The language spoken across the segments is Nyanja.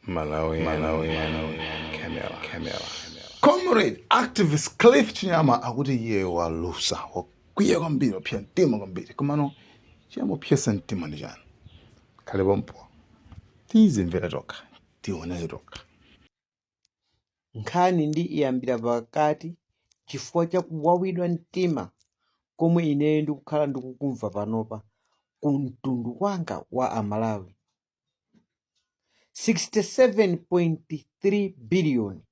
Malawian, Malawian, Camera, Camera. Comrade activist Cliff Chinyama akuti iye walusa wakwiya kwambiri wapsa mtima kwambiri komano chamupsetsa mtima ndi chani khalani pompo tizimvera tokha tionere tokha nkhani ndi iyambira pakati chifukwa cha kuwawidwa mtima komwe ineyo ndikukhala ndikukumva panopa ku mtundu wanga wa amalawi 67.3 biliyoni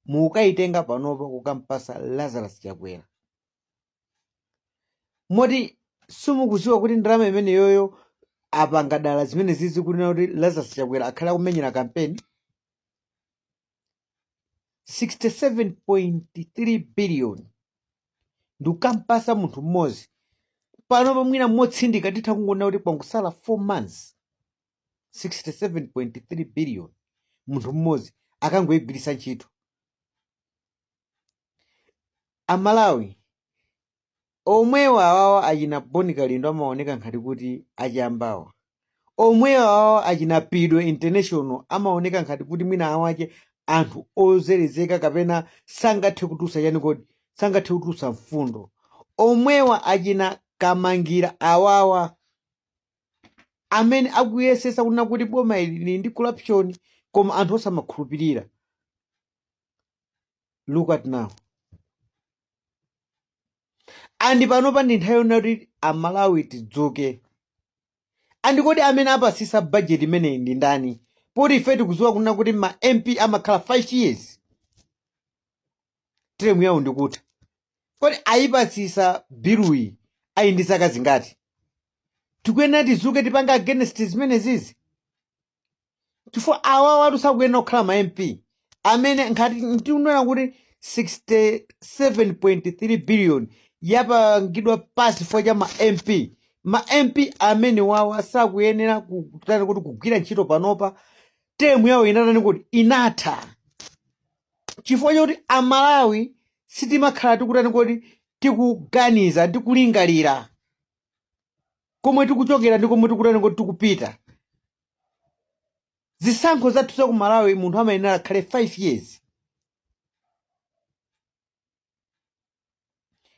mukayitenga panopa kukampasa lazarus chakwera moti simukuziwa kuti ndalama imeneyoyo apanga dala zimene zizi kunena kuti lazarus chakwera akhale akumenyera kampeni 67.3 biliyoni ndikukampasa munthu mmodzi panopa mwina motsindika titha kungonena kuti kwangosala 4 months 67.3 biliyoni munthu mmodzi akangoyigwiritsa ntchito amalawi omwewa awawa achina Bon Kalindo amaoneka ngati kuti achambawa omwewa awawa achina pido international amaoneka ngati kuti mwina wake anthu ozerezeka kapena sangathe kutulusa chani kodi sangathe kutulusa mfundo omwewa achina kamangira awawa amene akuyesesa kunena kuti boma ili li ndi corruption koma anthu osamakhulupirira look at now andi panopa ndi nthawi yonena kuti amalawi tidzuke andi kodi amene apasisa bajeti imeneyi ndi ndani poti ife tikuziwa kunena kuti ma mp amakhala 5 years temu yawo ndikutha kodi ayipasisa biluyi ayi ndi zaka zingati tikuyenera tizuke tipange against zimenezizi chifukwa awawatu sakuyenera kukhala ma mp amene ngati tikunena kuti 67.3 billion yapangidwa pasi chifukwa cha ma mp ma mp amenewawa sakuyenera kutani kuti kugwira ntchito panopa temu yawo inatani kuti inatha chifukwa chakuti amalawi sitimakhala tikutani kuti tikuganiza ndikulingalira komwe tikuchokera ndi komwe tikutani kuti tikupita zisankho zathu za ku malawi munthu amayenera akhale 5 years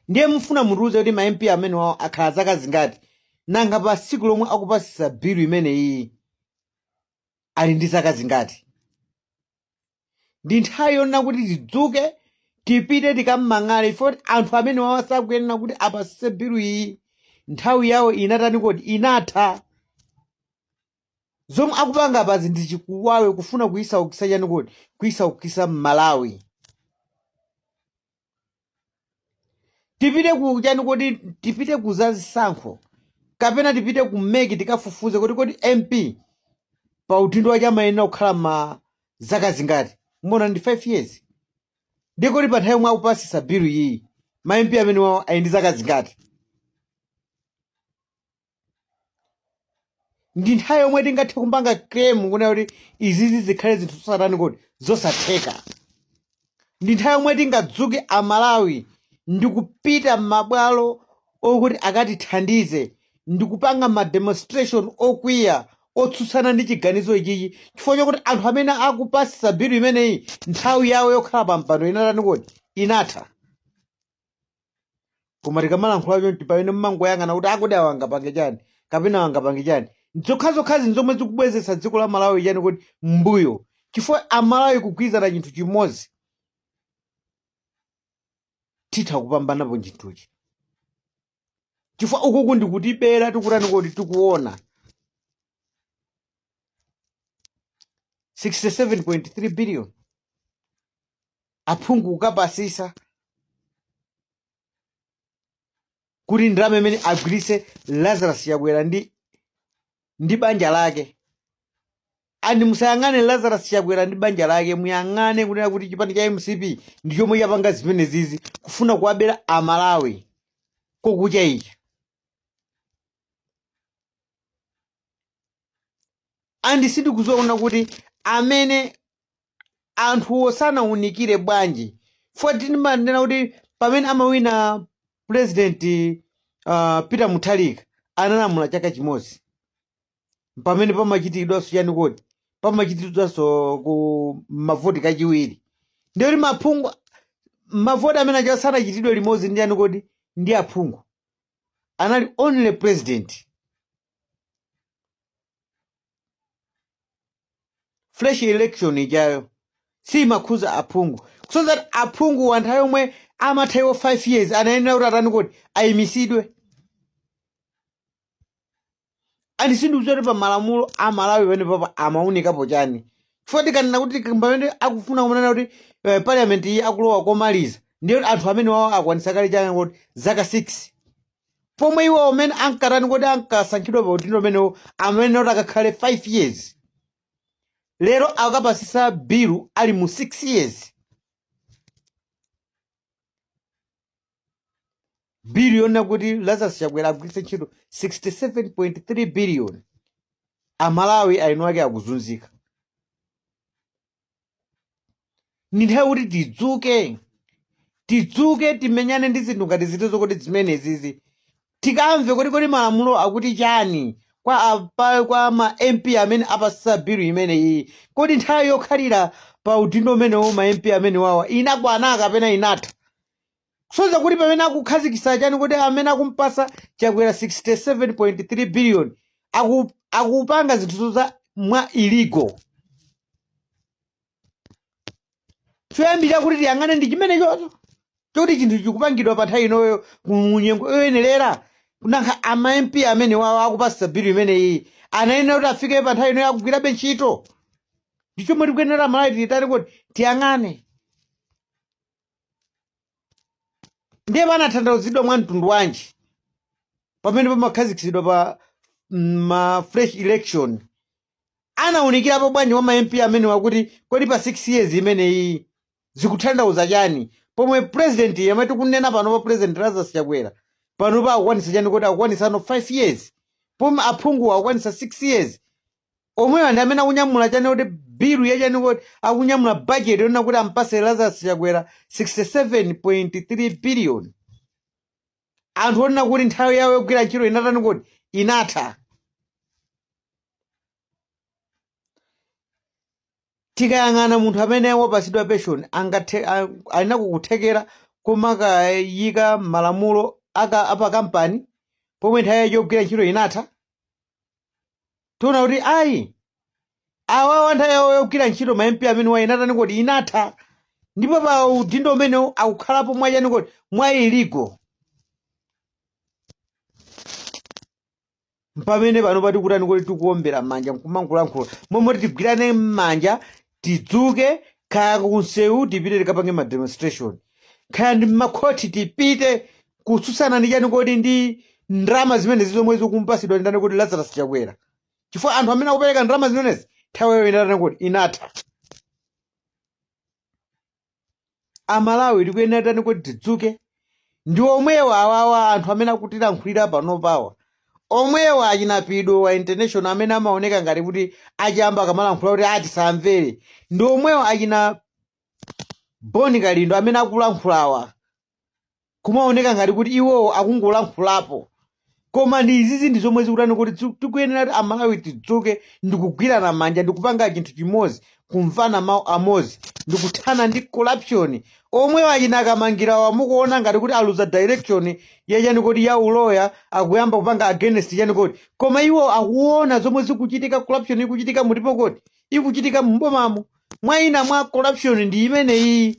ndiye mufuna mutiuze kuti ma mp amenewawo akhala zaka zingati nanga pa siku lomwe akupasisa bilu imeneyi ali ndi zaka zingati ndi nthawi yonena kuti tidzuke tipite tikamang'ale foti anthu amenewawa sakuyenera kuti apasise bilu iyi nthawi yawo inatani kodi inatha zomwe akupanga apazi ndi chikuwawe kufuna kuyisaukisa chani kodi kuyisaukisa mmalawi tipite ku chani kodi tipite ku za zisankho kapena tipite ku meki tikafufuze kuti kodi mp pa udindo wake amayenera kukhala kwa zaka zingati muona ndi 5 years ndiye kodi pa nthawi yomwe akupasisa bilu iyi ma mp amenewawo ali ndi zaka zingati ndi nthawi yomwe tingathe kupanga claim kunena kuti izizi zikhale zinthu zosatani kodi zosatheka ndi nthawi yomwe tingadzuke amalawi ndi kupita m'mabwalo okuti akatithandize ndi kupanga ma demonstration okwiya otsutsana ndi chiganizo ichichi chifukwa chakuti anthu amene akupasisa bilu imeneyi nthawi yawo yokhala pa mpando inatani kodi inatha koma tikamalankhula chonchi pamene mmangoyang'ana kuti kodi awa angapange chani kapena awa angapange chani zokhazokhazi nzomwe zikubwezetsa dziko la malawi chani kodi mbuyo chifukwa amalawi kugwirizana chinthu chimodzi titha kupambanapo chinthuchi chifukwa ukuku ndikutibera tikutani kodi tikuona 67.3 billion aphungu kukapasisa kuti ndalama imene agwiritse lazarus chakwera ndi ndi banja lake and musayang'ane lazarus chakwera ndi banja lake muyang'ane kunena kuti chipani cha mcp ndi chomwe chapanga zimenezizi kufuna kuwabera amalawi kokuchaicha andi sindikudziwa kunena kuti amene anthuwo sanaunikire bwanji foti ndimanena kuti pamene amawina president uh, peter mutharika analamula chaka chimodzi pamene pamachitidwanso chani kodi pamachitidwanso ku mavoti kachiwiri ndiye kuti maphungu mavoti amenewaja sanachitidwe limodzi ndi chani kodi ndi aphungu anali only president fresh election ijayo siimakhudza aphungu so that aphunguwa nthawi yomwe amatha iwo 5 years anayenera kuti atani kodi ayimisidwe andi sindikudziwa kuti pa malamulo a malawi panepopa amaunikapo chani chifukwa tikanena kuti pamene akufuna kumanena kuti eh, parliament iyi akulowa komaliza ndiye anthu amenewawo akwanitsa kale chani kodi zaka 6 pomwe iwo mmene ankatani kodi ankasankhidwa pa udindo umenewo amanena kuti akakhale 5 years lero akapasisa bilu ali mu 6 years bill yonena kuti lazarus chakwera agwiritse ntchito 67.3 billion amalawi eni ake akuzunzika ndi nthawi kuti tidzuke tidzuke timenyane ndi zinthu ngati zitizo kodi zimenezizi tikamve kuti kodi malamulo akuti chani kwa apa, kwa ma mp amene apasisa bilu imeneyi kodi nthawi yokhalira pa udindo umenewo ma mp amenewawa inakwana kapena inatha Kusonyeza kuti pamene akukhazikisa chani kodi amene akumpasa chakwera 67.3 billion aku akupanga zinthu za mwa illegal choyambirira kuti tiyang'ane ndi chimenechocho choti chinthu chikupangidwa pa nthawi inoyo mu nyengo yoyenerera kunena kuti ma mp amenewawo akupasa bill imeneyi anayenera kuti afike pa nthawi inoyo akugwirabe ntchito ndi chomwe tikuyenera amalawi titani kodi tiyang'ane ndiye panathandauzidwa mwa mtundu wanji pamene pamakhazikitsidwa pa mm, ma fresh election anawunikirapo bwanji kwa ma mp amenewa kuti kodi pa 6 years imeneyi zikuthandauza chani pomwe president yemwe tikunena panopa president lazarus chakwera panopa akukwanisa chani kodi akukwanisano 5 years pomwe aphungu akukwanisa 6 years omwewa ndi amene akunyamula chani kodi bilu ya chani kodi akunyamula bajeti yonena kuti ampase lazarus chakwera 67.3 billion anthu onena kuti nthawi yawo yogwira ntchito inatani kodi inatha tikayang'ana munthu amene wapatsidwa pension angathe a- ali nako kuthekera komakayika malamulo aka apakampani pomwe nthawi yake yogwira ntchito inatha tiona kuti ayi awawa nthawi yawo yogwira ntchito ma mp amenewa inatani kodi inatha ndipo pa udindo umenewu akukhalapo mwachani kodi mwa illegal mpamene panopa tikutani kodi tikuombera m'manja nkumangolankhula momwe tigwirane m'manja tidzuke kaya kumsewu tipite tikapange ma demonstration kaya ndi mmakhoti tipite kutsutsana ndi chani kodi ndi ndalama zimenezi zomwe zikumpasidwa ndani kodi lazarus chakwera chifukwa anthu amene akupereka ndalama zimenezi nthawi yawo inatani kodi inatha amalawi tikuyenera tani kuti tidzuke ndi omwewo awawa anthu amene akutilankhulira panopawa omwewa achina Pido wa international amene amaoneka ngati kuti achinyamata akamalankhula kuti tisamvere ndi omwewa achina boni kalindo amene akulankhulawa kumaoneka ngati kuti iwowo akungolankhulapo koma ndi izizi ndi zomwe zikutani kuti tsi- tikuyenera kuti amalawi tidzuke ndikugwirana manja ndikupanga chinthu chimodzi kumvana mawu amodzi ndikuthana ndi corruption omwe achina Kamangirawa mukuona ngati kuti aluza direction yachani kuti ya uloya akuyamba kupanga against chani kodi koma iwo akuona zomwe zikuchitika corruption ikuchitika mutipo kuti ikuchitika mubomamo mwina mwa corruption ndi imeneyi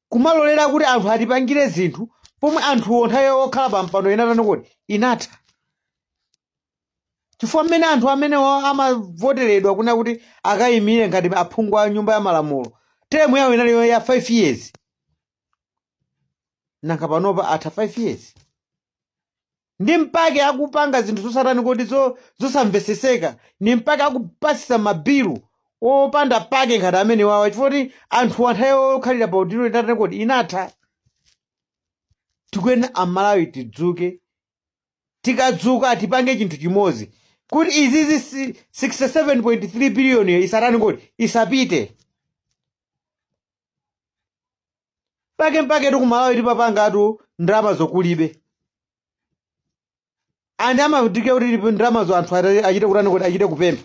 kumalolera kuti anthu atipangire zinthu pomwe anthuwo nthawi yawo okhala pa mpando inatani kodi inatha chifukwa mmene anthu amenewo amavoteredwa kunali kuti akayimire ngati aphungu a nyumba ya malamulo teremu yawo inali ya 5 years nanga panopa atha 5 years ndi mpake akupanga zinthu zosatani kodi zo- zosamveseseka ndi mpake akupasisa mabilu opanda pake ngati amenewawa chifukwa kuti anthuwa nthawi yokhalira pa udindo inatani kodi inatha tikuyena amalawi tidzuke tikadzuka tipange chinthu chimodzi kuti izizi si- 67.3 biliyoniyo isatani kodi isapite pake mpaketu kumalawi tipapangatu ndalama zokulibe andi amadike kuti ndalamazo anthu ata- achite kutani kuti achite kupempha